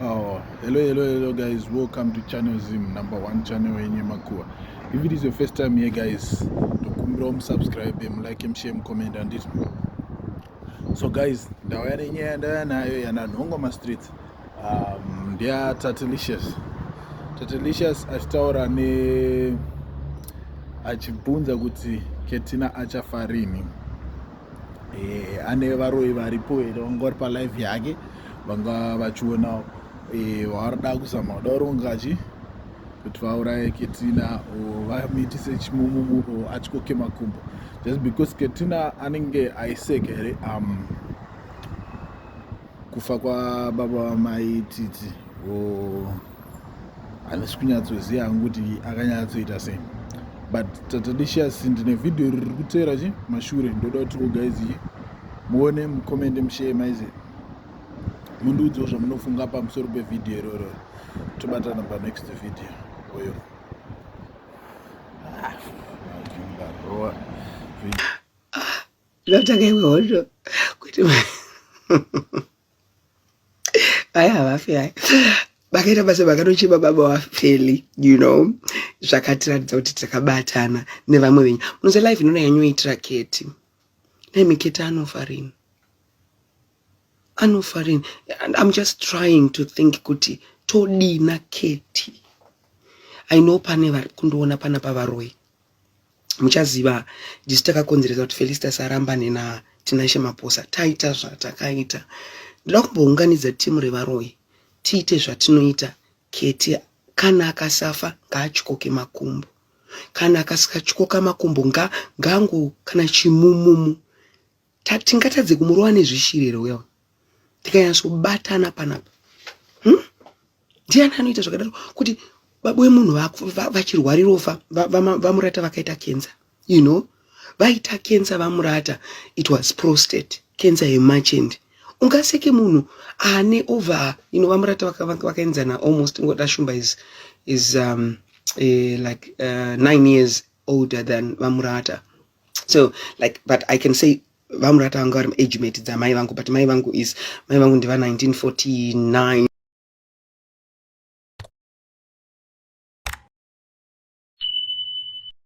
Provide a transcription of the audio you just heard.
Oh, hello, hello, hello, guys. Welcome to Channel Zim, number one channel in Yemakua. If it is your first time here, guys, don't subscribe, them, like, them, share, comment, and this. So, guys, ndawaya nenyaya ndaya nayo yana nhongo ma streets. Um, they are Tatilicious. Tatilicious achitaura ne achibvunza kuti Ketina achafarini. eh, ane varoyi varipo here vanga vari palive yake vanga vachionawo eh, vaari da kuzama kuda kuronga chi kuti vauraye ketina or vamitise chimumumu or atyoke makumbo just because ketina anenge aiseka here um, kufa kwababa vamai titi or handisi kunyatsoziva hangu kuti akanyatsoita sei but tatadishias ndine vhidhiyo riri kuteera chi mashure ndoda kuti ogaizi muone mukomende mushee maize mundiudzawo zvamunofunga pamusoro pevhidhiyo iroro tobatana panext vhidhiyo oyo ah, ah, zvatanga iwe hondo kuti Aya havafe aya vakaita basa vakatochema baba vafeli you know zvakatiratidza kuti takabatana nevamwe venyu munoza life inona yanyoitira keti dai miketi anofa rini anofa rini and im just trying to think kuti todina keti i know pane vari kundiona pana pavaroyi muchaziva ndisu takakonzeresa kuti felistas arambane natinashe maposa taita zvatakaita ndoda kumbounganidza timu revaroyi tiite zvatinoita keti kana akasafa ngaatyoke makumbo kana akasikatyoka makumbo ngangu kana chimumumu Tingatadze kumurova nezvishiri here uya tikanyatsobatana panapa hmm? ndiani anoita zvakadaro kuti baba wemunhu vachirwarira ofa vamurata vakaita kenza you know vaita kenza vamurata it was prostate kenza yemachende ungaseke munhu ane over you know vamurata vakaenzana almost ngoda shumba is, is um, uh, like uh, nine years older than vamurata so like but i can say vamurata vanga vari age mate dzamai vangu but mai vangu is mai vangu ndiva 1949